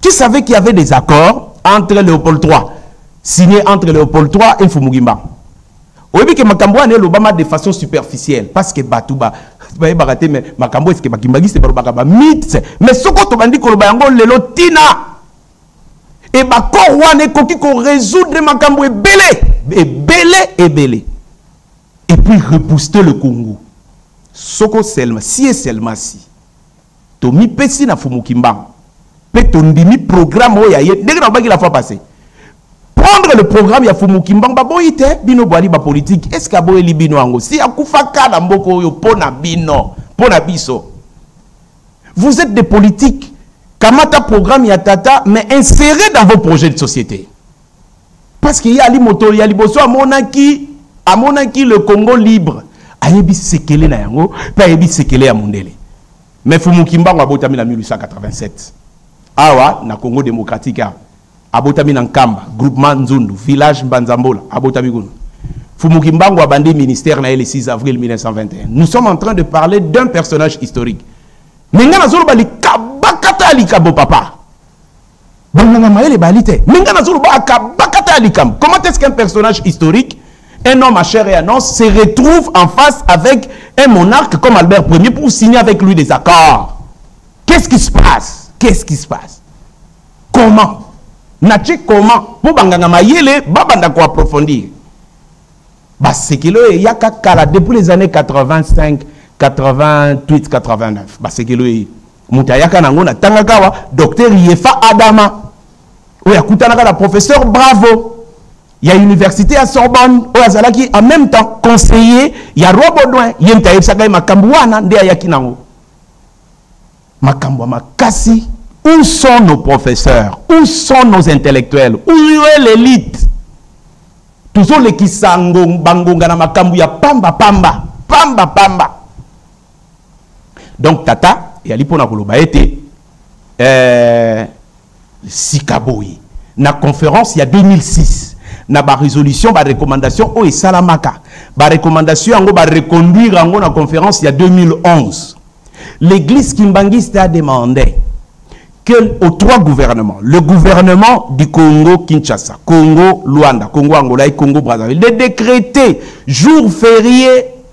Tu savais qu'il y avait des accords entre Léopold III, signés entre Léopold III et Fumugimba. oyebi ke makambo wana elobama de façon superficielle parce que bato ba bayebaka te mais makambo eske bakimbangiste balobaka ba mythe mais soko tobandi koloba yango lelo tina e bakor wana ekoki koresoudre makambo ebele ebele ebele et puis rebooster le congo soko selma si et selma si Tomipesi na Fumu Kimbangu pe tondimi programme oyo ya ye ndenge nalobaki la fois passée prendre le programme ya Fumu Kimbangu baboyi te bino bwali ba politique est-ce que aboyeli bino yango si akufaka na mboka oyo mpo na bino mpo na biso vous êtes des politiques kamata programme ya tata mais insérez dans vos projets de société parce que ye ali moto ya liboso amonaki amonaki le congo libre ayebi sekele na yango mpe ayebi sekele ya mondele me fumu kimbangu abotami na 1887 awa na congo démocratique awa abotami na nkamba groupement nzundu village mbanzambola abotami kuna fumu kimbangu abandi ministère na ye le 6 avril 1921 nous sommes en train de parler d'un personnage historique me ngai nazoloba likabakata ya likabo papa Bangonga mayele bali te. Mais nga nazoloba akabakata ya likambo. Comment est-ce qu'un personnage historique, un homme à chair et à os, se retrouve en face avec un monarque comme Albert Ier pour signer avec lui des accords Qu'est-ce qui se passe Qu'est-ce qui se passe Comment natie comment mpo banganga mayele babanda koaprofondir basekeli oyo eyaka kala depuis les années 85 88 89 basekeli oyo moto ayaka na yango natangaka awa docteur yefa adama oyo akutanaka na professeur bravo ya université ya sorbonne oyo azalaki en même temps conseiller ya roi baudouin ye moto ayebisaka ye makambo wana nde ayaki na yango makambo ya makasi où sont nos professeurs où sont nos intellectuels où est l'élite tozolekisa bangonga na makambo ya pamba pamba pamba pamba donc tata eyali mpo na koloba ete eh, sika boye na conférence ya 2006 na barésolution barecommandation oyo esalamaka barecommandation yango bareconduire yango na conférence ya 2011 l'église kimbanguiste a demandé que aux trois gouvernements, le gouvernement du Congo Kinshasa, Congo Luanda, Congo Angola et Congo Brazzaville, de décréter jour férié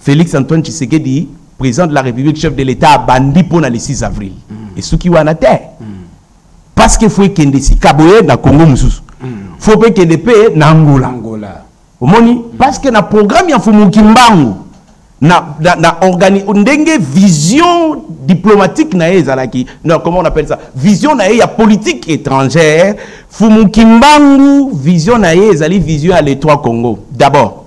Felix Antoine Tshisekedi, président de la République, chef de l'État, abandi mpo na le 6 avril. Mm. Esuki wana te. Mm. Parce que faut ekende sika boye na Congo mosusu. Mm. Faut mpe ekende mpe na Angola. Angola. Omoni? Mm. Parce que na programme ya Fumu Kimbangu, na, na, na organi ndenge vision diplomatique na ye ezalaki non comment on appelle ça vision na ye ya politique étrangère Fumu Kimbangu vision na ye ezali vision ya l'État Congo d'abord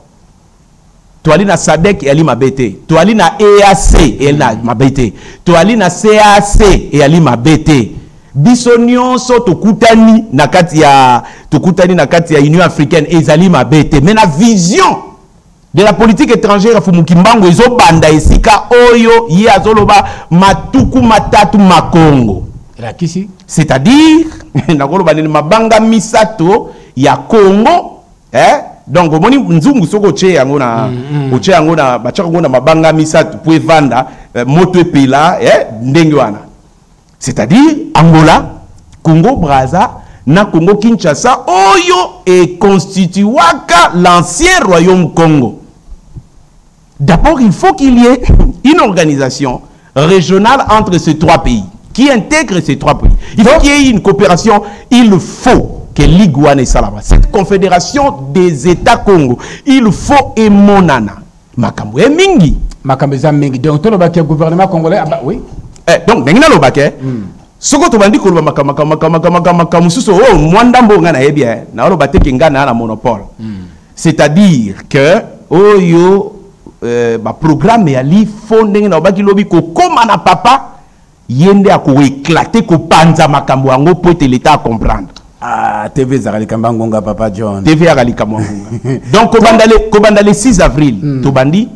toali na sadek eyali mabe te toali na eac eyali na mabe te toali na cac eyali mabe te biso nyonso tokutani na kati ya tokutani na kati ya union africaine ezali mabe te mais na vision de la politique étrangère ya fumuki mbangu ezobanda esika oyo ye azoloba matuku matatu makongo elakisi c'est-à-dire nakoloba nini mabanga misato ya congo eh? donc omoni nzungu soki otye yango na mm, mm. otye yango na batyaka yango na mabanga misato mpo evanda eh, moto epela eh? ndenge wana c'est-à-dire angola congo braza na congo kinshasa oyo econstituaka l'ancien royaume congo D'abord, il faut qu'il y ait une organisation régionale entre ces trois pays qui intègre ces trois pays. Il faut qu'il y ait une coopération. Il faut que l'Iguane Salama, cette confédération des États Congo, il faut emonana. Makambo e mingi. Makambo eza mingi. Donc, tout le gouvernement congolais, ah bah oui. Eh, donc, ndenge na lobaka, eh, hmm. soko tobandi koloba makambo makambo makambo makambo makambo mosusu oyo oh, mwa ndambo ngai nayebi eh, naoloba te ke ngai naa na monopole hmm. c'est à dire que oyo euh, ba programme ya li fo ndenge na obaki lobi kokoma na papa ye nde akoeklate kopanza makambo yango mpo ete leta acomprendre Ah, TV ezalaka likambo ya ngonga papa john tv yaka likambo ya ngonga donc kobanda le, kobanda le 6 avril mm. tobandi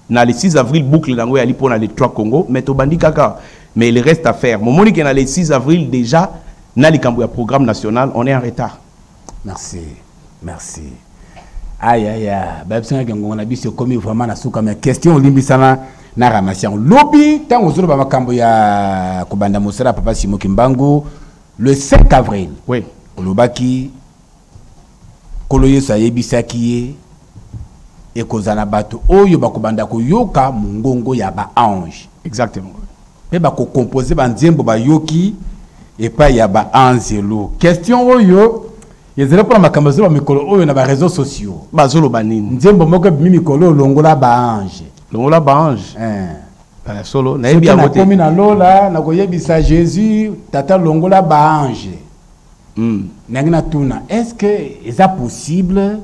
na le 6 avril boucle na yango eyali mpo na le 3 congo mais tobandi kaka mais il reste à faire momoni ke na le 6 avril déjà na likambo ya programme national on est en retard Merci. Merci. Aïe aïe aïe. Ba bisanga ngongo na biso komi vraiment na suka mais question olimbisana na ramasi yango lobi ntango ozoloba makambo ya kobanda mosala ya papa simo kimbangu le 5 avril oui. olobaki nkolo yesu ayebisaki ye ekozala bato oyo bakobanda koyoka mongongo ya baange exactement mpe bakokompose banzembo bayoki epai ya baanzelu question oyo ezali mpona makambo ezoloba mikolo oyo na bareseau sociaux bazoloba nini nzembo moko ebimi mikolo longola baange longola baange eh. eh, solo nayebi yango te nakomi na lola nakoyebisa jésus tata longola baange mm. nangi natuna est ce que eza possible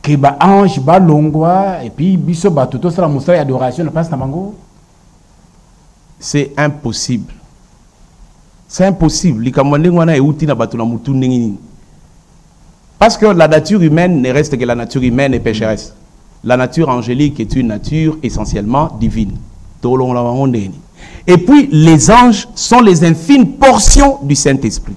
que ba ange balongwa et puis biso bato tosala mosala ya adoration na place na bango c'est impossible c'est impossible likambo ya ndenge wana euti na bato na motu ndenge nini parce que la nature humaine ne reste que la nature humaine et pécheresse la nature angélique est une nature essentiellement divine tolongola bango ndenge nini et puis les anges sont les infimes portions du saint-esprit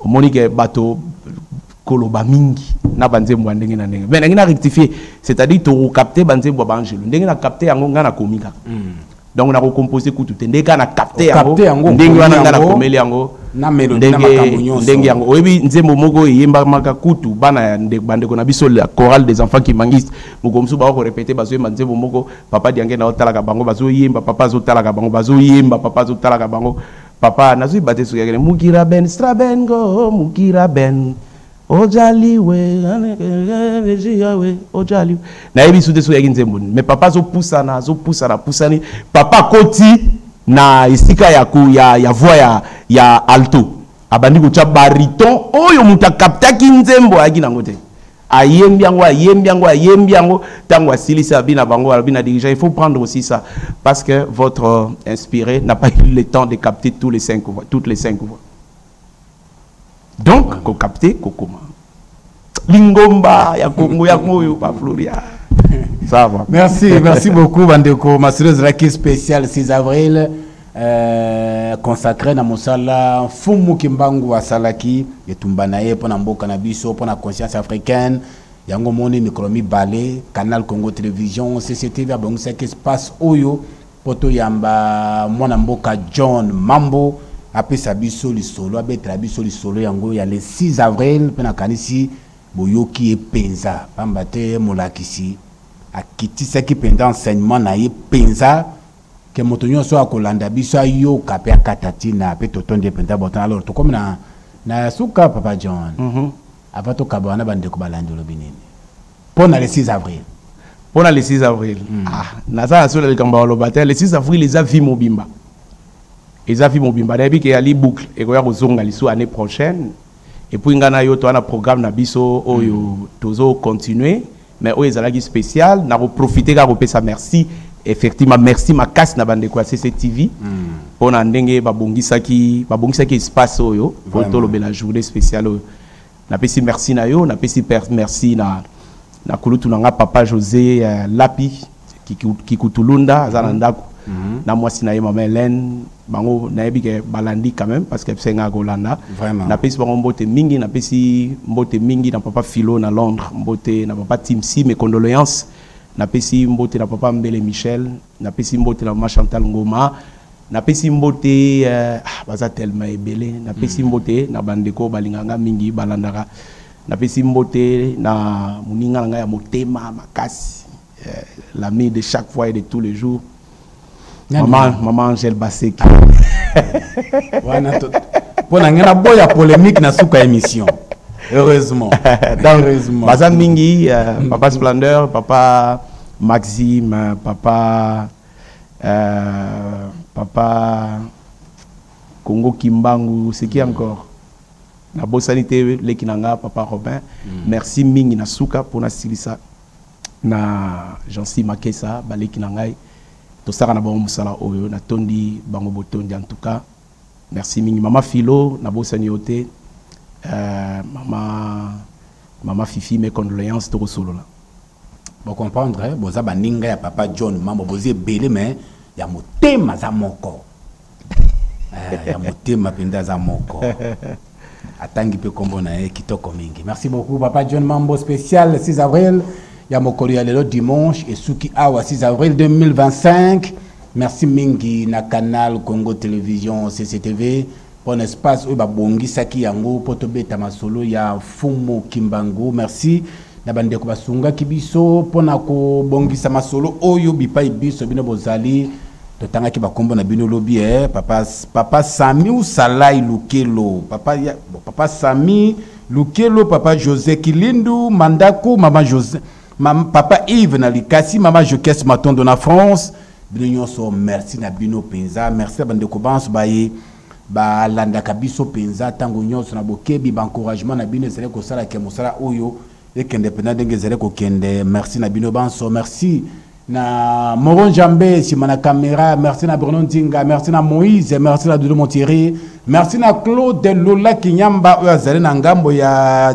omoni ke bato koloba mingi na banzembo ya ndenge na ndenge me nangi na rectifie c'est-à-dire tokokapte banzembo ya baangelo ndenge na kapte yango ngai nakomi kaka hmm. donc nakocompose kutu te ndenge kaka na kapte yango ndenge wana ngai nakomeli yango ndenge yango oyebi nzembo moko eyembamaka kutu bana ya bandeko na biso la chorale des enfants kimangiste mokolo mosusu bakokorepete bazoyemba nzembo moko papa diange na otalaka bango bazoyemba papa azotalaka bango bazoyemba papa azotalaka bango papa nazwi bate soki akende mukira ben strabengo mukira ben ojali we ojali nayebi su te soki yaki nzembo nini mais papa azopusana azopusana apusani papa akoti na esika ya, ya, ya voix ya, ya alto abandi kotya bariton oyo moto akaptaki nzembo ayaki nango te ayembi yango ayembi yango ayembi yango ntango asilisi abi na bango alobi na dirigeant il faut prendre aussi ça parce que votre euh, inspiré n'a pas eu le temps de capter tous les cinq voix toutes les cinq voix donc kokapte kokoma lingomba ya kongo yango oyo bafloria ça va merci merci beaucoup bandeko masolo ezalaki spécial 6 avril eh, consacre na mosala mfumu kimbangu asalaki etumba na ye mpo na mboka na biso mpo na conscience africaine yango moni mikolo mibale canal congo television cctv abongisaki espace oyo mpo toyamba mwana mboka john mambo apesa biso lisolo abetela biso lisolo yango ya le 6 avril mpe nakanisi boyoki ye mpenza mpamba te molakisi akitisaki mpenza enseignement na ye mpenza ke moto nyonso akolanda biso ayoka mpe akata ntina mpe totondi ye mpenza botana lor tokomi na na ya suka papa john mm -hmm. ava tokaba wana bandeko balandi olobi nini mpo na le 6 avril mpo na le 6 avril mm. ah, naza na sola likambo baloba te le 6 avril eza vie mobimba eza vie mobimba nayebi ke yali boucle ekoya kozonga lisusu année prochaine epuis ngai na yo toa na programme na biso oyo mm. tozo continuer mais oyo ezalaki spécial na ko profiter ka ko pesa merci effectivement merci makasi na bandeko ya cctv mpo hmm. na ndenge babongisaki babongisaki espace oyo mpo tolobela journée spéciale oyo napesi merci na yo napesi merci na na kulutu na nga papa josé euh, lapi kikutulunda aza na mhm. ndako mhm. na mwasi na ye mama helene bango nayebi ke balandi quand même parce que bisenga kolanda napesi bango mbote mingi napesi mbote mingi na papa philo na londres mbote na papa timsi mes condoléances napesi mbote na papa mbele michel napesi mbote na mama chantal ngoma napesi mbote euh, ah, baza telema ebele napesi mhm. mbote na bandeko balinganga mingi balandaka Napesi mbote na moninga na ngai ya motema makasi, eh, l'ami de chaque fois et de tous les jours, maman, maman Angèle Baseki. Mpo na ngai naboya polemique na suka émission. Heureusement. Donc, Heureusement. Baza mingi, euh, mm. papa Splendeur, papa Maxime, papa euh, papa Congo Kimbangu, c'est qui mm. encore Na bosani te leki na nga papa Robin. Merci mingi na suka po na silisa na Jeancy Makesa ba leki na ngai. Tosaka na bango musala oyo na tondi bango botondi en tout cas. Merci mingi mama Philo na bosani yo te. Euh, mama mama Fifi mes condoléances toko solola. Bo comprendre boza baninga ya papa John Mambo boza ebele mais ya motema aza moko. Eh, ya motema mpenza aza moko atangi mpe nkombo na ye kitoko mingi merci beaucoup papa john mambo spécial 6 avril ya mokolo ya lelo dimanche esuki awa 6 avril 2025 merci mingi na canal congo télévision cctv mpo na espace oyo babongisaki yango mpo tobeta masolo ya fumu kimbangu merci na bandeko basungaki biso mpo na kobongisa masolo oyo bipai biso bino bozali totangaki bakombo na bino lobi eh, papa, papa sami usalai lukelo papa, ya, papa sami lukelo papa josé kilindu mandaku mama josé mama, papa yves na likasi mama jokes matondo na france bino nyonso merci na bino mpenza merci na bandeko banso baye Ba landaka biso penza tango nionso na bokebi, ba encouragement na bino ezali kosala ke mosala oyo ekende penza ndenge ezali kokende. Merci na bino banso. Merci na Moro Njambe sima na camera, merci na Bruno Nzinga, merci na Moïse, merci na Doudou Montiri, merci na Claude Lola Kinyamba oyo azali na ngambo ya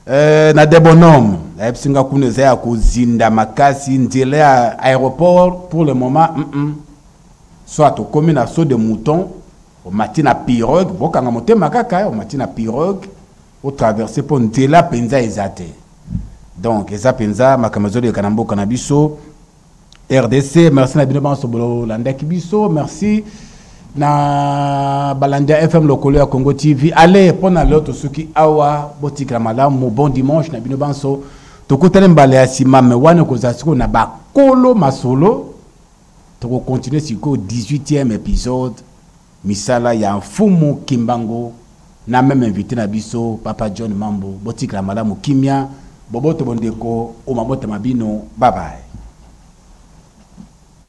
euh, na Debonome. Ayebisi nga kuna eza ya kozinda makasi nzela ya aéroport pour le moment. Mm -mm. Soit tokomi na saut de mouton, omati na pirogue, bokanga motema kaka, omati na pirogue, o traverser po nzela penza eza te. Donc eza penza makambo ezoleka na mboka na biso. RDC, merci na bino banso bolandaki biso, merci na balandi ya FM lokolo ya Congo TV. Allez, mpo na lelo tosuki awa, botikela malamu, bon dimanche na bino banso. Tokutani mbala ya nsima, me wana ekozala sikoyo na bakolo masolo Toko continuer sikoyo 18e episode misala ya Mfumu Kimbangu na meme invite na biso Papa John Mambu. Botikala malamu kimia, boboto bondeko o mabota ma bino. Bye bye.